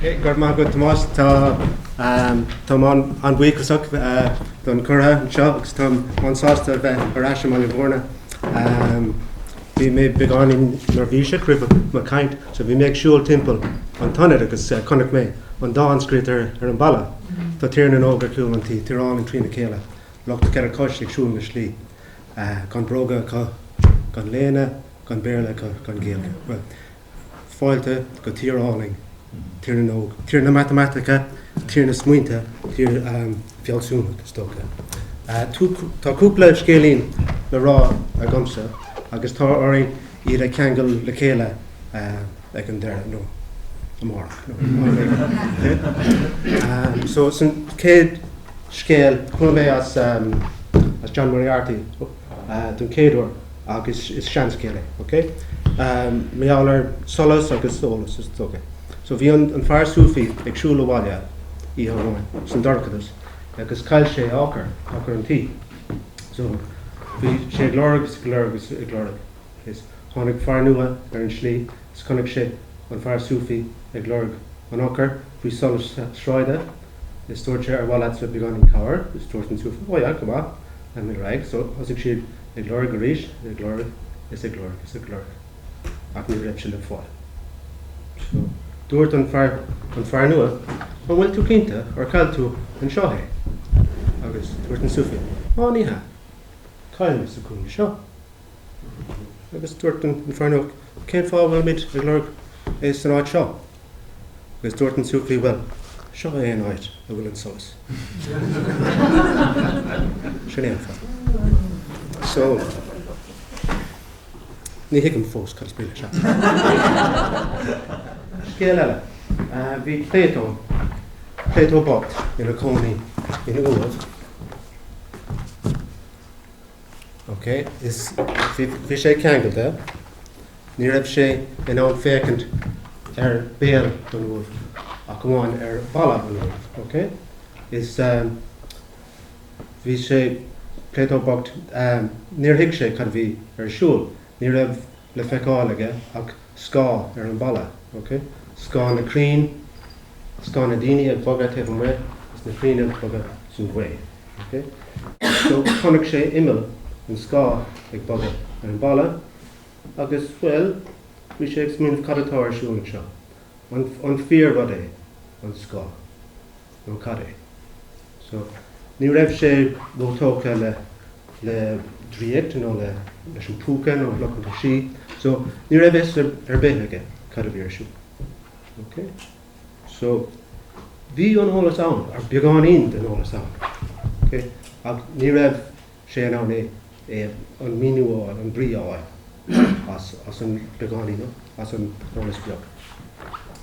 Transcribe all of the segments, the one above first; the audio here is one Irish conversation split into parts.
Go raibh maith agat Tomás, tá táim an-bhuíochasach don curtha anseo agus táim an-sásta bheith ar ais i mBaile Bhúirne. Bhí mé beagáinín neirbhíseach roimh mo chaint so bhí mé ag siúl timpeall an t-ionad agus chonaic mé an dán scríofa ar ar an bhalla, Tá Tír na nÓg ar chúl an tí, Tír álainn trína chéile, lucht na Ceithre Cois ag siúl na slí. Gan bróga acu, gan léine, gan Béarla acu, gan Gaeilge. Bhuel, fáilte go tír álainn, tír na n-óg, tír na matamaitice, tír na smaointe, tír fealsúnach, is dócha. Tá cúpla scéilín le rá agamsa agus tá orainn iad a cheangal le chéile. ag an deireadh nó amárach nó whatever. So is an chéad scéal, chuala mé as John Moriarty don chéad uair agus is seanscéal é, ok? Mar gheall ar solas agus eolas is dócha. So bhí an fear Sufi ag siúl abhaile oíche amháin san dorchadas agus chaill sé a eochair, eochair an tí. So bhí sé ag lorg agus ag lorg agus ag lorg. Is tháinig fear nua ar an slí is chonaic sé an fear Sufi ag lorg an eochair faoi solas sráide is dúirt sé ar mhaith leatsa beagáinín cabhair is dúirt an Sufi ó yeah go maith I'm in rag so thosaigh siad ag lorg arís ag lorg is ag lorg is ag lorg ach ní raibh sé le fáil so dúirt an fear an fear nua an bhfuil tú cinnte ar chaill tú anseo é agus dúirt an Sufi á ní hea chaill mé sa cúinne seo. Agus dúirt an fear nua, Cén fáth a bhfuilimid ag lorg é san áit seo? Agus dúirt an Sufi, Bhuel, seo é an áit a bhfuil an solas. Sin é an fáth. So, ní thuigim fós cad is baolach seo. Scéal eile, bhí Plato, Plato bocht, ina cónaí in Uaimh. OK, is bhí sé ceangailte. Ní raibh sé in ann féachaint ar béal an uaimh ach amháin ar bhalla an uaimh. OK? Is um, bhí sé Plato bocht, um, níor thuig sé cad a bhí ar siúl. Ní raibh le feiceáil aige ach scáth ar an bhalla, ok? scáth na crainn, scáth na daoine ag bogadh taobh amuigh agus na crainn ag bogadh san ghaoth, ok? So, chonaic sé imeall an scáth ag bogadh ar an bhalla agus, bhuel, bhí sé ag smaoineamh cad atá ar siúl anseo? An fíor rud é an scáth? nó cad é? So, ní raibh sé róthógtha le, le draíocht nó le, leis an bpúca nó lucht an tsí, so ní raibh fhios ar, ar bith aige cad a bhí ar siúl. OK? So, bhí an eolas ann, nó beagáinín den eolas ann. OK? Ach ní raibh, sé in ann é, an míniú a fháil, an brí a fháil as an beagáinín, as an eolas beag.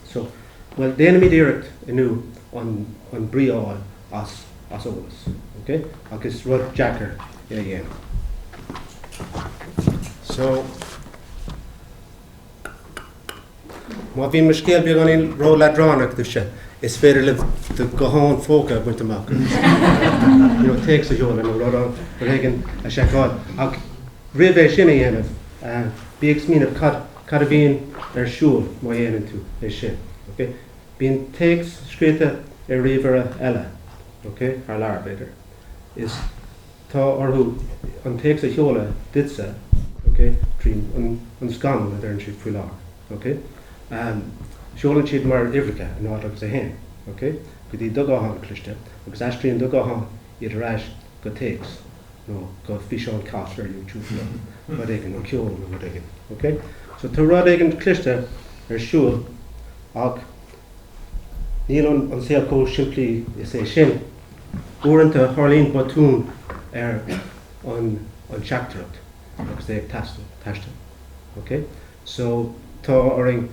So, bhuel, déanaimid iarracht inniu an brí a fháil as eolas, okay? Ach is rud deacair é a dhéanamh. So. Má bhíonn mo scéal beagáinín ró-leadránach daoibhse, is féidir libh do ghuthán phóca a bhaint amach nó téacs a sheoladh nó rud éigin a sheiceáil. Ach roimh é sin a dhéanamh, bí ag smaoineamh cad a bhíonn ar siúl má dhéanann tú é sin. Bíonn téacs scríofa ar ríomhaire eile, thar lear b'fhéidir. Tá orthu an téacs a sheoladh duitse, ok, trí an scamall a deireann siad faoi láthair, ok. Seolann siad mar uimhreacha, a náid agus a haon, ok, go dtí do ghuthán cliste agus aistríonn do ghuthán iad ar ais go téacs nó go físeán cat ar YouTube nó rud éigin, nó ceol nó rud éigin, ok. So tá rud éigin cliste ar siúl ach níl an saol chomh simplí is é sin. Uaireanta tarlaíonn botún ar an teachtaireacht agus é ag taisteal. Ok? So, tá orainn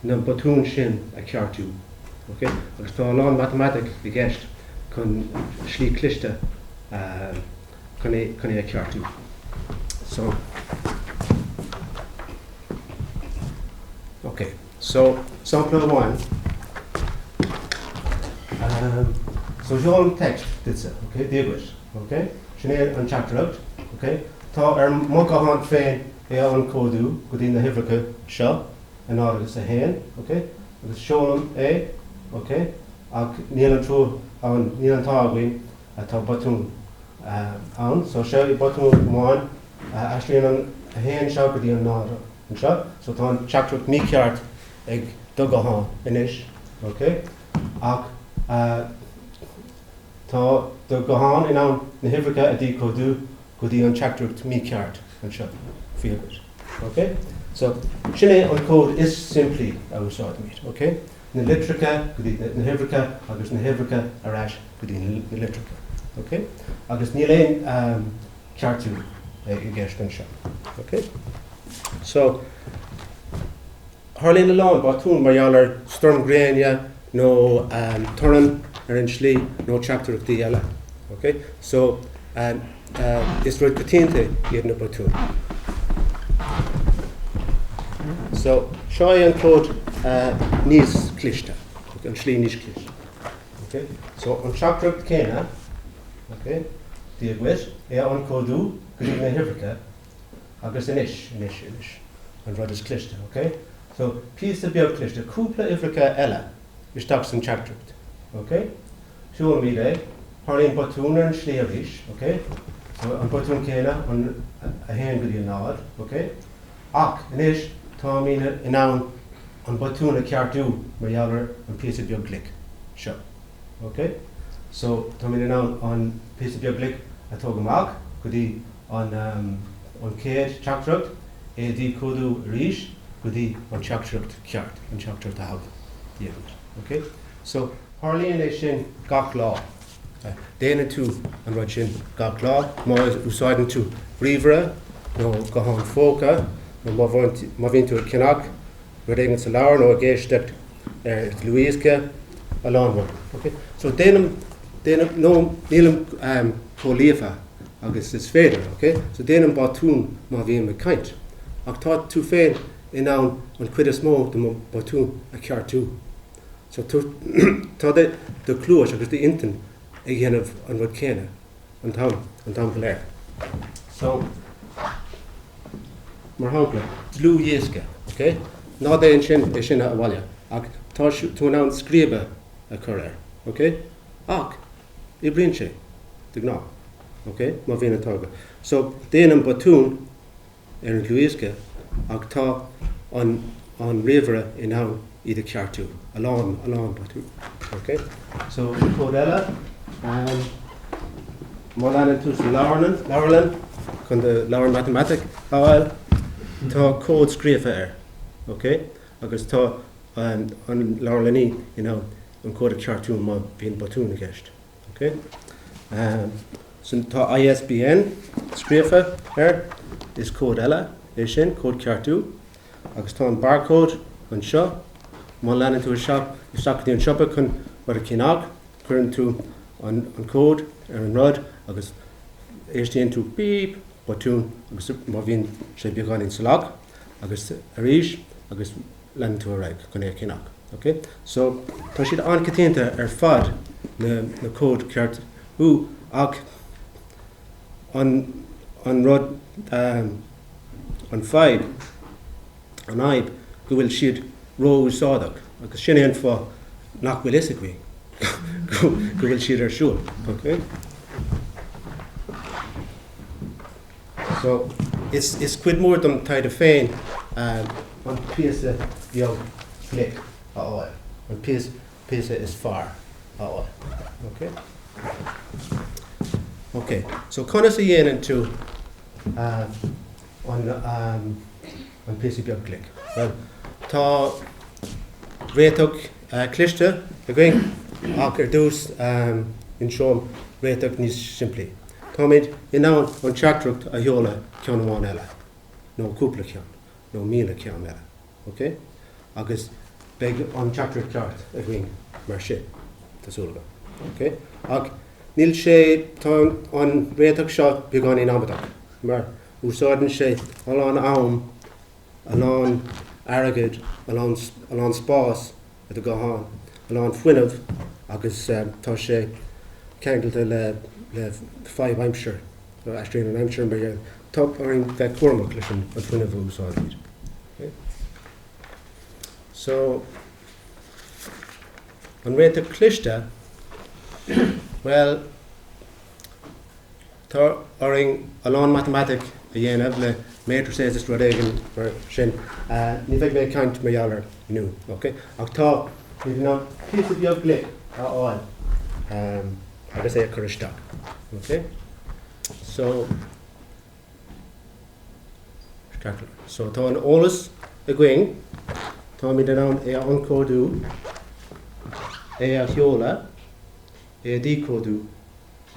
na botúin sin a cheartú. Ok? Agus tá a lán matamaitic i gceist chun slí cliste chun é a cheartú. So, ok. So, sampla amháin, so seolaim text duitse, ok, feel good, ok, sin é an teachtaireacht, ok, tá ar mo ghuthán féin é a ionchódú go dtí na huimhreacha seo, 0 agus 1, ok, agus seolaim é, ok, ach níl an trua ann, níl an t-ádh againn, tá botún ann, so seo é botún amháin aistríonn an 1 seo go dtí an 0. anseo. So tá an teachtaireacht mícheart ag do ghuthán anois, ok? Ach tá do ghuthán in ann na huimhreacha a dhíchódú go dtí an teachtaireacht mícheart anseo, feel good, ok? So sin é an cód is simplí a úsáidimid, ok? Na litreacha go dtí na huimhreacha agus na huimhreacha ar ais go dtí na litreacha, ok? Agus níl aon ceartú i gceist anseo. Ok? So, tharlaíonn a lán botún mar gheall ar stoirm ghréine nó torann ar an tslí nó teachtaireachtaí eile. Ok? So, is rud coitianta iad na botúin. So, seo é an cód níos cliste, an slí níos cliste. OK? So, an teachtaireacht chéanna, OK, dia dhuit, é a ionchódú go dtí na huimhreacha agus anois, anois, anois, an rud is cliste, OK? So, píosa beag cliste, cúpla uimhreacha eile isteach san teachtaireacht, OK? Seolaimid é, tharlaíonn botún ar an slí arís, OK? So, an botún céanna, an 1 go dtí an 0, OK? Ach, anois, táimid in ann an botún a cheartú mar gheall ar an bpíosa beag glic seo. OK? So, táimid in ann an píosa beag glic a tógadh amach go dtí an an chéad teachtaireacht, é a dhíchódú arís go dtí an teachtaireacht ceart, an teachtaireacht a thogha. The end. OK? So, tharlaíonn é sin gach lá. Déanann tú an rud sin gach lá má úsáideann tú ríomhaire nó guthán póca nó má bhíonn tú ag ceannach rud éigin sa leabharlann nó ag éisteacht ar dhlúthdhiosca, a lán rud. So déanaim, déanaim, no, nílim chomh líofa agus is féidir, ok? So déanaim botúin má bhím ag caint. Ach tá tú féin in ann an chuid is mó de mo bhotúin a cheartú. Sea, tá do chluais agus d'intinn ag déanamh an rud céanna an t-am, an t-am go léir. So, mar shampla, dlúthdhiosca, ok? Ná déan sin, é sin abhaile, ach tá tú in ann scríobadh a chur air, ok? Ach, oibríonn sé, de ghnáth, ok? Má bhíonn an t-ádh agat. So, déanann botún. ar an dlúthdhiosca ach tá an an ríomhaire in ann iad a cheartú. A lán, a lán botún. OK? So, an cód eile. Má théann tú sa leabharlann, leabharlann, chun do leabhar matamaitic a fháil, tá cód scríofa air. OK? Agus tá an leabharlannaí in ann an cód a cheartú má bhíonn botún i gceist. OK. Sin, tá ISBN scríofa air, is cód eile é sin, cód ceartú, agus tá an barcode anseo. Má théann tú isteach go dtí an siopa chun rud a cheannach, cuireann tú an cód ar an rud agus éistíonn tú bíp, botún, agus má bhíonn sé beagáinín salach, agus arís, agus leanann tú ar aghaidh go léir ceann acu, ok? So, tá siad an-choitianta ar fad, na, na cóid cheartú, ach an, an rud, ehm, an fadhb, an fhadhb go bhfuil siad ró-úsáideach agus sin é an fáth nach bhfuil fhios againn go, go bhfuil siad ar siúl, ok? So, is is cuid mhór de mo thaighde féin an píosa beag glic a fháil, an píosa is fearr a fháil. Okay? Okay. So, conas a dhéanann tú uh, an, um, An píosa beag glic. Bhuel, tá réiteach cliste againn ach ar dtús inseoim réiteach níos simplí. Táimid in ann an teachtaireacht a sheoladh ceann amháin eile, nó cúpla ceann, nó míle ceann eile, ok? Agus beidh an teachtaireacht ceart againn mar sin, tá súil agam, ok? Ach níl sé, tá an réiteach seo beagáinín amaideach mar, Úsáideann sé a lán am, a lán airgid, a lán spáis i do ghuthán, a lán fuinnimh agus tá sé ceangailte le fadhb aimsire, aistriú na haimsire mar gheall. Tá orainn bheith cúramach leis an fuinneamh a úsáidimid. So, an réiteach cliste? Bhuel. Tá orainn a lán matamaitic a dhéanamh le matrices is rud éigin mar sin. Ní bheidh mé ag caint mar gheall air inniu, ok? Ach táimid in ann píosa beag glic a fháil agus é a chur isteach, ok? So, so tá an eolas againn, táimid in ann é a ionchódú, é a sheoladh, é a dhíchódú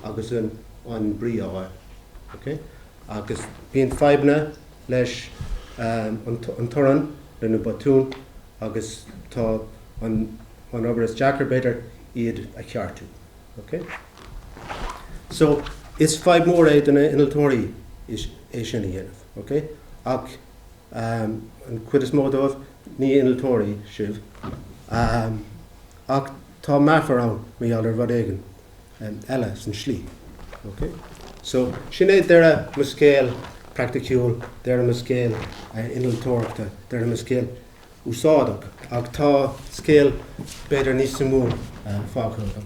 agus an brí a fháil. Agus bíonn fadhbanna leis an torann, leis na botúin agus tá an obair is deacair, b'fhéidir, iad a cheartú. So, is fadhb mór é do na innealtóirí é sin a dhéanamh. Ach an chuid is mó díbh, ní innealtóirí sibh. Ach tá meafar ann mar gheall ar rud éigin eile san tslí. Ok? So, sin é deireadh mo scéal praiticiúil, deireadh mo scéal innealtóireachta, deireadh mo scéal úsáideach. Ach tá scéal b'fhéidir níos suimiúil fágtha agam.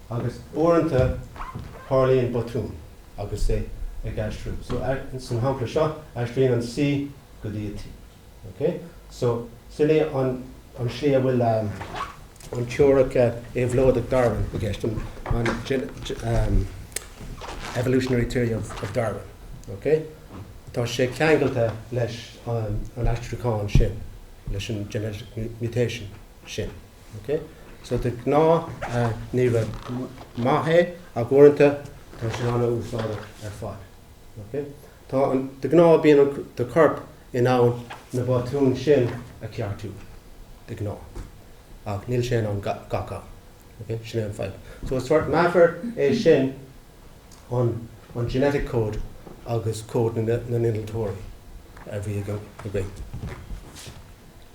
Agus uaireanta tarlaíonn botún agus é ag aistriú. So, san shampla seo, aistríonn an C go dtí an T. Ok? So, sin é an slí a bhfuil an teoiric éabhlóideach Darwin i gceist, an evolutionary theory of Darwin. Ok? Tá sé ceangailte leis an aistriúchán sin, leis an genetic mutation sin. Ok so de gnáth ní rud maith é ach uaireanta tá sé ana-úsáideach ar fad. Ok tá an de gnáth bíonn an do corp in ann na botúin sin a ceartú de gnáth ach níl sé in ann gach am. Ok sin é an fadhb. So is sort meafar é sin an an genetic code agus cód na n-innealtóirí a bhí againn.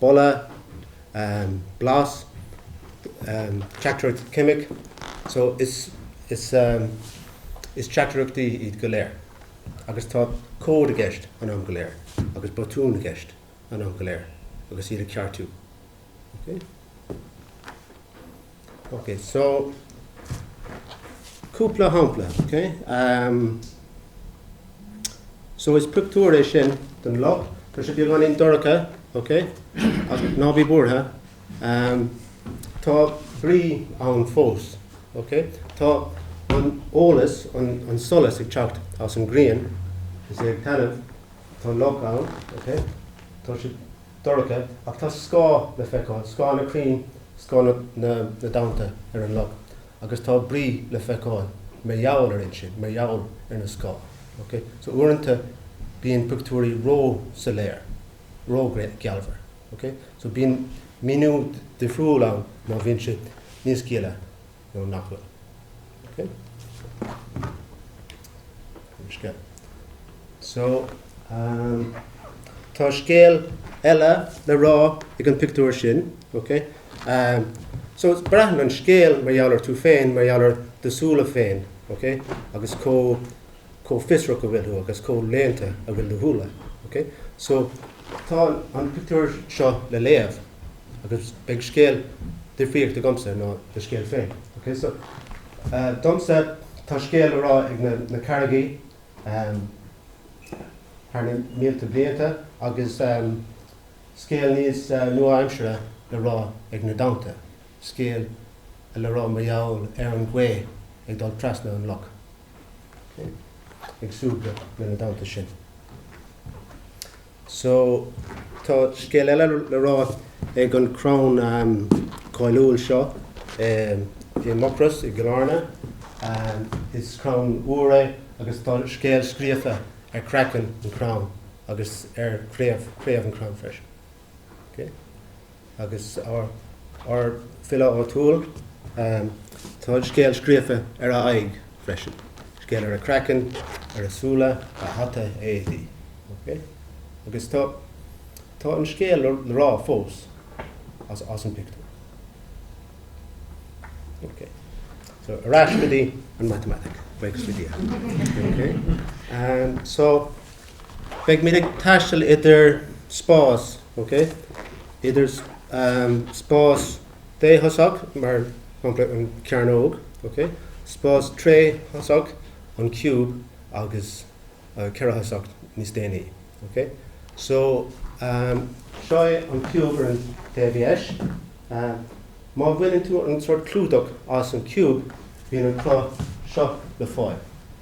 boladh, blas, teachtaireacht ceimic, so is teachtaireachtaí iad go léir agus tá cód i gceist an am go léir agus botúin i gceist an am go léir agus iad á ceartú. Ok, so cúpla shampla, ok? Ehm, so is pictiúr é sin den loch, tá sé beagáinín dorcha, ok? Ach ná bí buartha, ehm, tá brí ann fós, ok? Tá an eolas, an, an solas ag teacht as an ghrian, 's é ag taitneamh, tá loch ann, ok? Tá sé dorcha ach tá scáth le feiceáil, scáth na crainn, scáth na dtonnta ar an loch agus tá brí le feiceáil mar gheall air sin, mar gheall ar na scáth. Ok? So uaireanta bíonn pictiúirí ró-soiléir, ró-ghealmhar. Ok? So bíonn míniú difriúil ann má bhíonn sé níos gile. nó nach bhfuil. Ok? An scéal. So, ehm, tá scéal eile le rá ag an pictiúr sin, ok? Ehm, so, braitheann an scéal mar gheall ar tú féin, mar gheall ar do shúile féin, ok? Agus comh, comh fiosrach a bhfuil tú agus comh léannta a bhfuil do shúile, ok? So, tá an pictiúr seo le léamh. Agus beidh scéal difríochta agamsa ná do scéal féin. Ok so, domsa tá scéal le rá ag na carraigí thar na mílte blianta agus scéal níos nua-aimsire le rá ag na dtonnta, scéal le rá mar gheall ar an ghaoth ag dul trasna an loch. Ok? Ag súgradh le na dtonnta sin. So, tá scéal eile le rá ag an chrann cáiliúil seo i Mucros i gCill Airne. Is crann iúir é agus tá scéal scríofa ar chraiceann an chrainn agus ar chraobh an chrainn freisin. Agus ár bhfile áitiúil, tá a scéal scríofa ar a aghaidh freisin, scéal ar a chraiceann, ar a súile, a hata, a éadaí. Agus tá an scéal le rá fós as an bpictiúr. So, ar ais go dtí an matamaitic. Beidh muid ag taisteal idir spás, ok, idir spás déthoiseach, mar shampla an cearnóg, ok, spás tríthoiseach, an ciúb, agus ceathairthoiseach níos déanaí, ok. So, seo é an ciúb ar an taobh dheis. Má bhaineann tú an sórt clúdach as an ciúb, bíonn an cruth seo le fáil.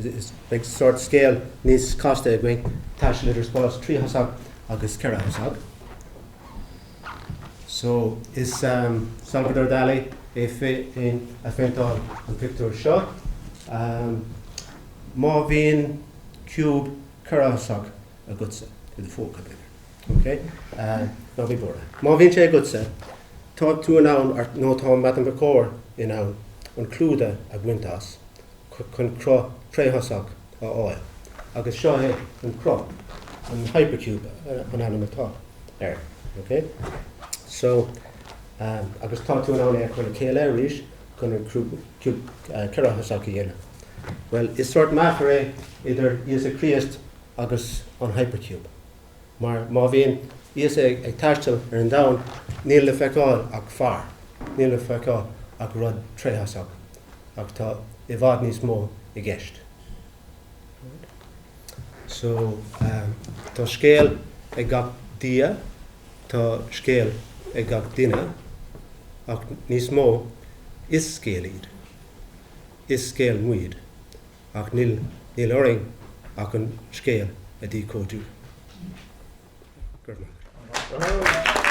Is beidh sórt scéal níos casta againn. Taisteal idir spás tríthoiseach agus ceathairthoiseach. So, is Salvador Dalí é féin a phéinteáil an pictiúr seo. Má bhíonn ciúb ceathairthoiseach agatsa, i do phóca b'fhéidir, ok, ná bí buartha. Má bhíonn sé agatsa, tá tú in ann, nó tá matamaiticeoir in ann, an clúdach a bhaint as. chun cruth tríthoiseach a fháil agus seo é an cruth, an hypercube an ainm atá air, ok? So, agus tá tú in ann é a chur le chéile arís chun an cruth ceathairthoiseach a dhéanamh. Bhuel, is sórt meafar é idir Íosa Críost agus an hypercube. mar má bhíonn Íosa ag taisteal ar an domhan, níl le feiceáil ach fear, níl le feiceáil ach rud tríthoiseach, ach tá i bhfad níos mó i gceist. So, tá scéal ag gach Dia, tá scéal ag gach duine, ach níos mó, is scéal iad, is scéal muid, ach níl, níl orainn ach an scéal a dhíchódú. Go raibh maith agat.